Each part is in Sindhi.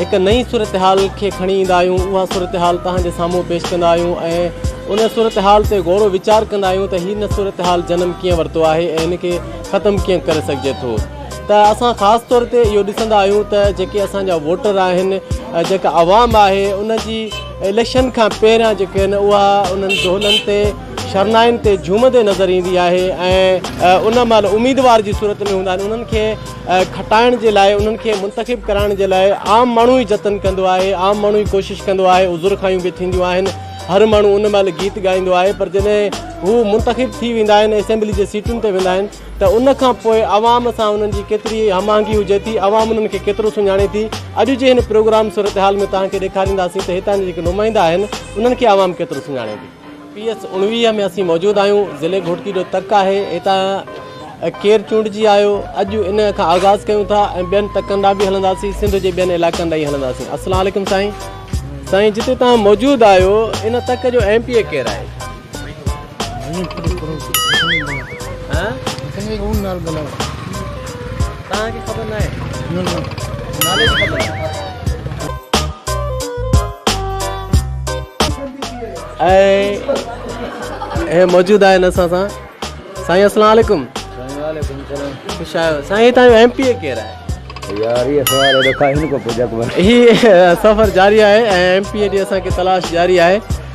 هڪ نئين صورتحال کي کڻي ايندا آهيون، اها صورتحال توهان جي سامهون پيش ڪندا آهيون ۽ ان صورتحال تي غورو ويچار ڪندا آهيون ته هن صورتحال جنم ڪيئن ورتو آهي ۽ ان کي ختم ڪيئن ڪري سگهجي ٿو ته اسان خاص طور تي اهو ڏسندا آهيون ته جيڪي اسان جا ووٽر آهن جيڪا عوام آهي ان جي اليڪشن کان پهريان جيڪي آهن اها انهن دهلن تي شرنائن تي جهومندي نظر ايندي آهي ۽ ان مهل اميدوار جي صورت ۾ هوندا آهن انهن کي کٽائڻ جي لاء انهن کي منتخب ڪرائڻ جي لاء عام ماڻهو ئي جتن ڪندو آهي عام ماڻهو ئي ڪوشش ڪندو آهي عذر خايون به ٿينديون آهن هر ماڻهو ان مهل گيت ڳائيندو آهي پر جڏهن هو منتخب ٿي ويندا آهن اسيمبلي جي سيٽن تي ويندا آهن ته ان کان پوء عوام سان انهن جي ڪيتري هم آهنگي هجي ٿي عوام انهن کي ڪيترو سڃاڻي ٿي اڄ جي هن پروگرام صورتحال ۾ توهان کي ڏيکارينداسين ته هتان جي جيڪي نمائندا آهن انهن کي عوام ڪيترو سڃاڻي ٿي پي ايس اڻويهه ۾ اسين موجود آهيون ضلعي گهوٽڪي جو تڪ آهي هتان ڪير چونڊجي آيو اڄ ان کان آغاز ڪيون ٿا ۽ ٻين تڪن ڏانهن به هلنداسين سنڌ جي ٻين علائقن ڏانهن هلنداسين السلام عليڪم سائين سائين جتي تان موجود آيو ان تڪ جو ايم پي اي ڪير آهي توهان کي خبر ناهي. نه نه نالي جي خبر آهي. ۽ موجود آهن اسان سان سائين السلام عليڪم خوش آيو سائين هتان جو ايم پي اي ڪير آهي سفر جاري آهي ۽ ايم پي اي جي اسان کي تلاش جاري آهي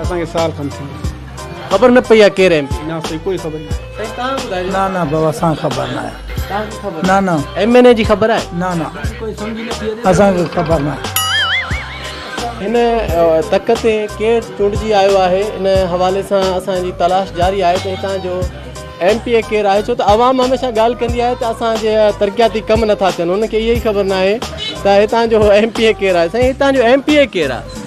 اسان کي سال کن ٿي ويو. خبر نه پئي آ ڪير ايم پي. نه سائين ڪوئي خبر ناهي. سائين توهان ٻڌايو. نه نه بابا اسان کي خبر ناهي. توهان کي خبر ناهي. نه نه. ايم اين اي جي خبر آهي. نه نه. اسان کي خبر ناهي. هن تڪ تي ڪير چونڊجي آيو آهي ان حوالي سان اسان جي تلاش جاري آهي ته هتان جو ايم پي اي ڪير آهي ڇو ته عوام هميشه ڳالهه ڪندي آهي ته اسان جي ترقياتي ڪم نٿا ٿين هن کي اهي ئي خبر ناهي ته هتان جو ايم پي اي ڪير آهي سائين هتان جو ايم پي اي ڪير آهي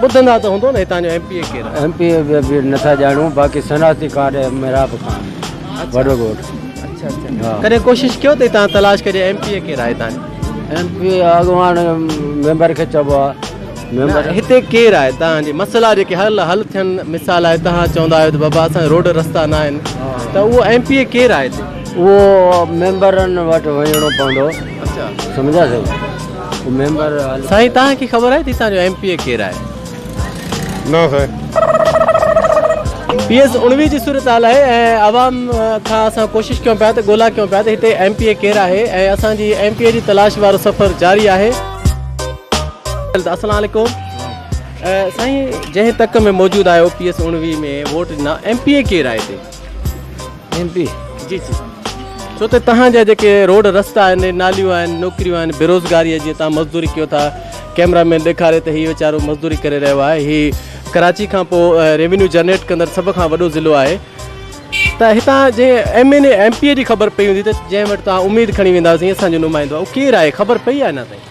ٻڌندا ته هوندؤ نه هتان جو ايم پي اي ڪير آهي. ايم پي اي به نٿا ڄاڻون باقي شناختي ڪارڊ ايم محراب خان وڏو ڳوٺ. اڇا اڇا ڪڏهن ڪوشش ڪيو تي تان تلاش ڪجي ايم پي اي ڪير آهي هتان جو. ايم پي اي اڳواڻ ميمبر کي چئبو آهي ميمبر. هتي ڪير آهي تان جي مسئلا جيڪي هل حل ٿين مثال آهي تان چوندا آهيو ته بابا اسان جي روڊ رستا نه آهن ته اهو ايم پي اي ڪير آهي هتي. اهو ميمبرن وٽ وڃڻو پوندو سمجهيا سائين. سائين تان کي خبر آهي تي تان جو ايم پي اي ڪير آهي؟ نه سائين. پي ايس اڻويهه جي صورتحال آهي ۽ عوام کان اسان ڪوشش ڪيون پيا ته ڳولا ڪيون پيا ته هتي ايم پي اي ڪير آهي ۽ اسان جي ايم پي اي جي تلاش وارو سفر جاري آهي. السلام عليڪم سائين جنهن تڪ ۾ موجود آهيو پي ايس اڻويهه ۾ ووٽ ڏنا ايم پي اي ڪير آهي هتي؟ ايم پي جي جي ڇو ته تهان جا جيڪي روڊ رستا آهن ناليون آهن نوڪريون آهن بيروزگاري جي تهان مزدوري ڪيو ٿا ڪيمرا مين ڏيکاري ته هي ويچارو مزدوري ڪري رهيو آهي هي ڪراچي کان پو ريونيو جنريٽ ڪندڙ سڀ کان وڏو ضلعو آهي ته هتان جي M N A M P جي خبر پئي هوندي ته جنهن وٽ تهان اميد کڻي ويندا سين اسان جو نمائندو آهي اهو ڪير آهي خبر پئي آهي نه تائين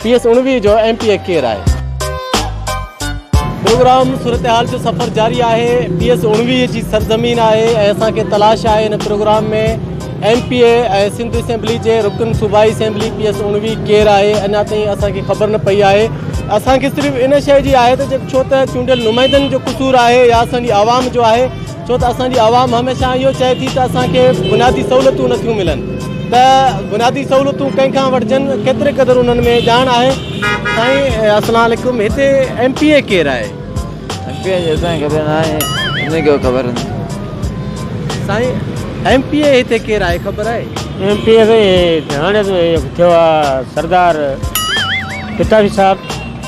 سي ايس اڻويهه جو ايم پي اي ڪير آهي؟ پروگرام صورتحال جو سفر جاري آهي پي ايس اڻويهه جي سرزمين آهي ۽ اسان کي تلاش آهي ان programme ۾ M P A ۽ Sindh assembly جي رڪن صوبائي اسيمبلي پي ايس اڻويهه ڪير آهي اڃا تائين اسان کي خبر نه پئي آهي اسان کي صرف ان شيء جي آهي ته ڇو ته چونڊيل نمائندن جو قصور آهي يا اسان جي عوام جو آهي ڇو ته اسان جي عوام هميشه اهو چئي ٿي ته اسان کي بنيادي سهولتون نٿيون ملن ته بنيادي سهولتون ڪنهن کان وٺجن ڪيتري قدر انهن ۾ ڄاڻ آهي سائين السلام عليڪم هتي ايم پي اي ڪير آهي ايم پي اي جي اسان کي خبر نه آهي ان کي خبر نه سائين ايم پي اي هتي ڪير آهي خبر آهي ايم پي اي سائين هاڻي ٿيو آهي سردار پتافي صاحب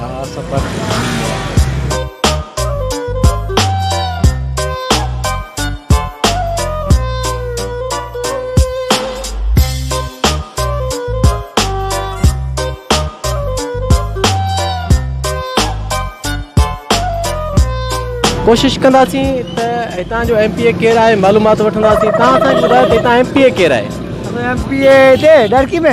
ها سفر تي وڃي ويا هئا. ڪوشش ڪنداسين ته هتان جو ايم پي اي ڪير آهي معلومات وٺنداسين تان اسان کي ٻڌايو ته هتان ايم پي اي ڪير آهي ايم پي اي هتي ڏرڪي ۾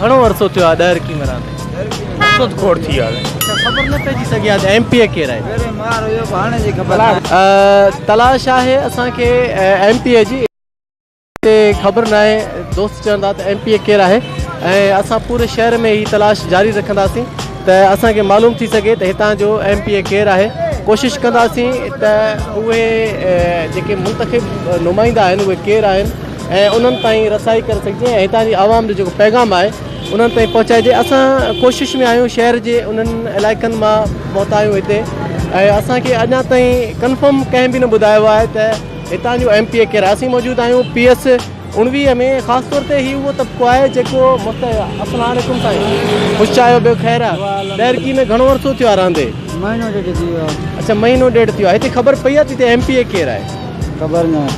گهڻو عرصو ٿيو آهي ڏهه رڪي مران تي. سڌ کوڙ ٿي آهي. اچا خبر نه پئجي سگهي آهي ته ايم پي اي ڪير آهي. تلاش آهي اسان کي ايم پي اي جي. تي خبر ناهي دوست چون ٿا ته ايم پي اي ڪير آهي ۽ اسان پوري شهر ۾ هي تلاش جاري رکنداسين ته اسان کي معلوم ٿي سگهي ته هتان جو ايم پي اي ڪير آهي ڪوشش ڪنداسين ته اهي جيڪي منتخب نمائندا آهن اهي ڪير آهن ۽ انهن تائين رسائي ڪري سگهجي ۽ هتان جي عوام جو جيڪو پيغام آهي انهن تائين پهچائجي اسان ڪوشش ۾ آهيون شهر جي انهن علائقن مان پهتا آهيون هتي ۽ اسان کي اڃا تائين ڪنفرم ڪنهن به نه ٻڌايو آهي ته هتان جو ايم پي اي ڪير آهي اسين موجود آهيون پي ايس اڻويهه ۾ خاص طور تي هي اهو طبقو آهي جيڪو السلام عليڪم سائين خوش چاهيو ٻيو خير آهي دهرڪي ۾ گهڻو عرصو ٿيو آهي رهندي مهينو ڏيڍ ٿي ويو اچا مهينو ڏيڍ ٿي ويو هتي خبر پئي آهي ته هتي ايم پي اي ڪير آهي خبر نه.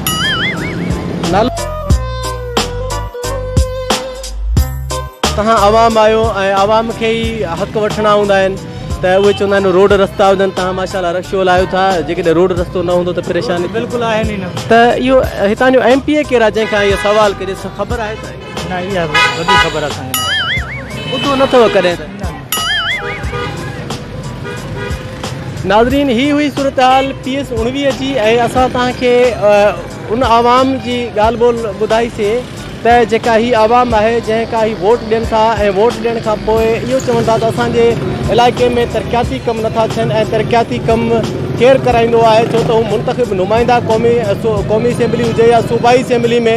توهان عوام آهيو ۽ عوام کي ئي حق وٺڻا هوندا آهن ته اهي چوندا آهن روڊ رستا هجن توهان ماشا الله رش هلايو ٿا جيڪڏهن روڊ رستو نه هوندو ته پريشاني بلڪل آهن ئي نه ته اهو هتان جو ايم پي اي ڪير آهي جنهن کان اهو سوال ڪجي خبر آهي ته نه اها وڏي خبر اسان کي ناهي. ٻڌو نه اٿئو ڪڏهن ته. ناظرين هي هئي صورتحال پي ايس اڻويهه جي ۽ اسان توهان کي ان عوام جي ڳالهه ٻولهه ٻڌائي سي ته جيڪا هي عوام آهي جنهن ڪا هي ووٽ ڏين ٿا ۽ ووٽ ڏيڻ کان پوء اهو چون ٿا ته اسان جي علائقي ۾ ترقياتي ڪم نٿا ٿين ۽ ترقياتي ڪم ڪير ڪرائيندو آهي ڇو ته هو منتخب نمائندا قومي قومي اسيمبلي هجي يا صوبائي اسيمبلي ۾